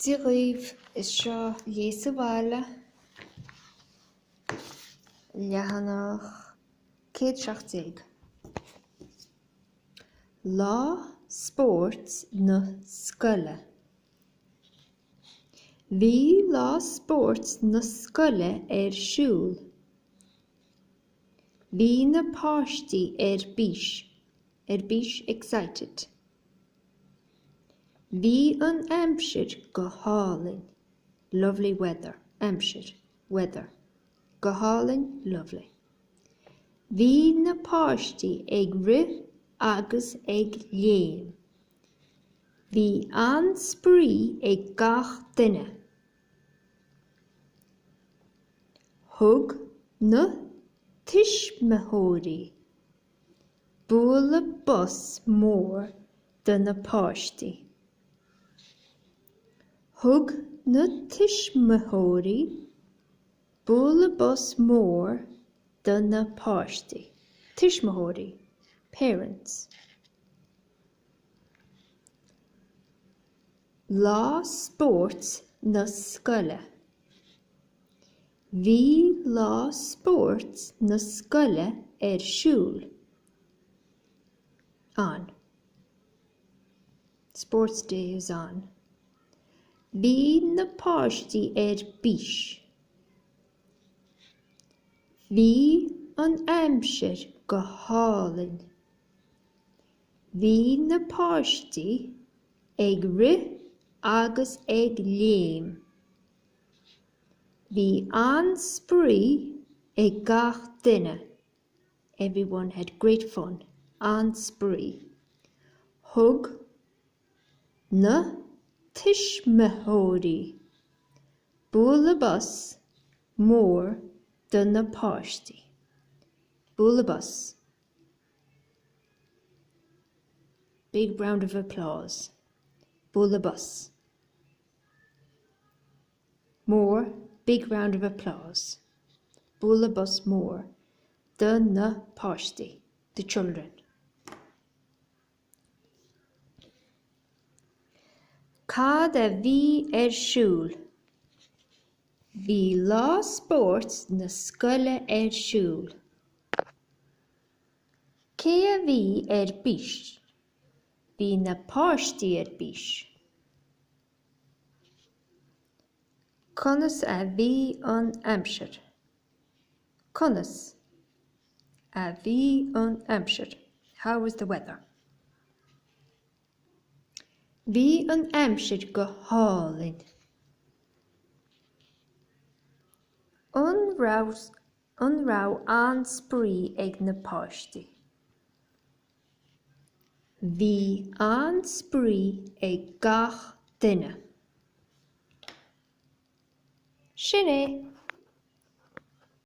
Dia dhaoibh, is seo Léigh sa Bhaile, leathanach 117. Lá Spóirt na Scoile. Bhí Lá Spóirt na Scoile ar siúl. Bhí na páistí ar bís, ar bís, excited. Bhí an aimsir go hálainn, lovely weather, aimsir, weather, go hálainn, lovely. Bhí na páistí ag rith agus ag léim. Bhí an-spraoi ag gach duine. Thug na tuismitheoirí. Bualadh bos mór do na páistí. Thug na tuismitheoirí bualadh bos mór do na páistí. Tuismitheoirí, parents. Lá spóirt na scoile. Bhí lá spóirt na scoile ar siúl, on. Sports day is on. Bhí na páistí ar bís. Bhí an aimsir go hálainn. Bhí na páistí ag rith agus ag léim. Bhí an-spraoi ag gach duine, Everyone had great fun. an-spraoi. Thug na tuismitheoirí bualadh bos mór do na páistí. bualadh bos, big round of applause. bualadh bos. mór, big round of applause. Bualadh bos mór do na páistí, the children. Cad a bhí ar siúl? Bhí lá spóirt na scoile ar siúl. Cé a bhí ar bís? Bhí na páistí ar bís. Conas a bhí an aimsir? Conas a bhí an aimsir? How was the weather? Bhí an aimsir go hálainn. An raibh, an raibh an-spraoi ag na páistí? Bhí an-spraoi ag gach duine. Sin é.